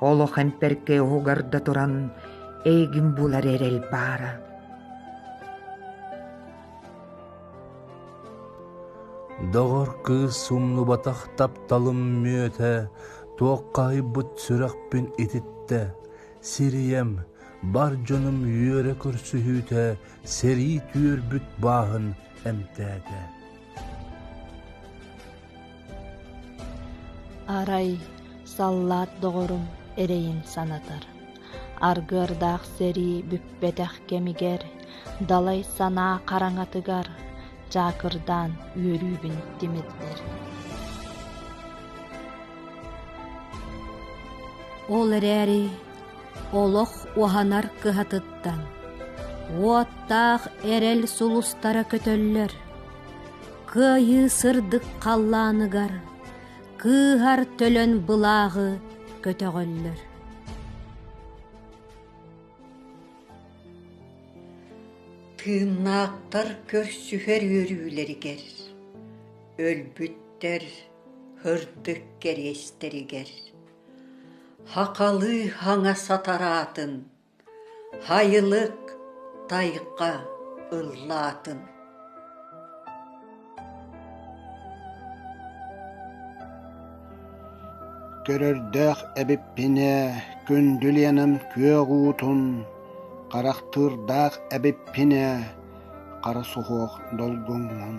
олох эмпэркэй оһугар да туран эйигин булар эрэл баара доҕор кыыс умнубатах тапталым мүөтэ туох хаһыйбыт сүрэхпин ититтэ сирийэм бар дьонум үөрэ көрсүһүүтэ сэрии түөрбүт бааһын эмтээтэ Арай саллаат доҕорум эрэйин санатар, аргыардаах сэрии бүппэтэх кэмигэр далай санаа хараҥатыгар чаакырдаан үөрүүбүн тимирдэр. Ол эрээри олох уһанар кыһатыттан уоттаах эрэл сулустара көтөллөр. Кыайыы сырдык халлааныгар кыыһар төлөн былааҕы көтөҕөллөр. Тыыннаахтар көрсүһэр үөрүүлэригэр, өлбүттэр һырдык кэриэстэригэр, хахалыы хаҥа сатараатын Хайылык тайҕа ыллаатын Көрөрдөөх эбиппин ээ, күндүл Ленам күөх уутун, харахтыырдаах эбиппин ээ, хара суһуох долгуҥҥун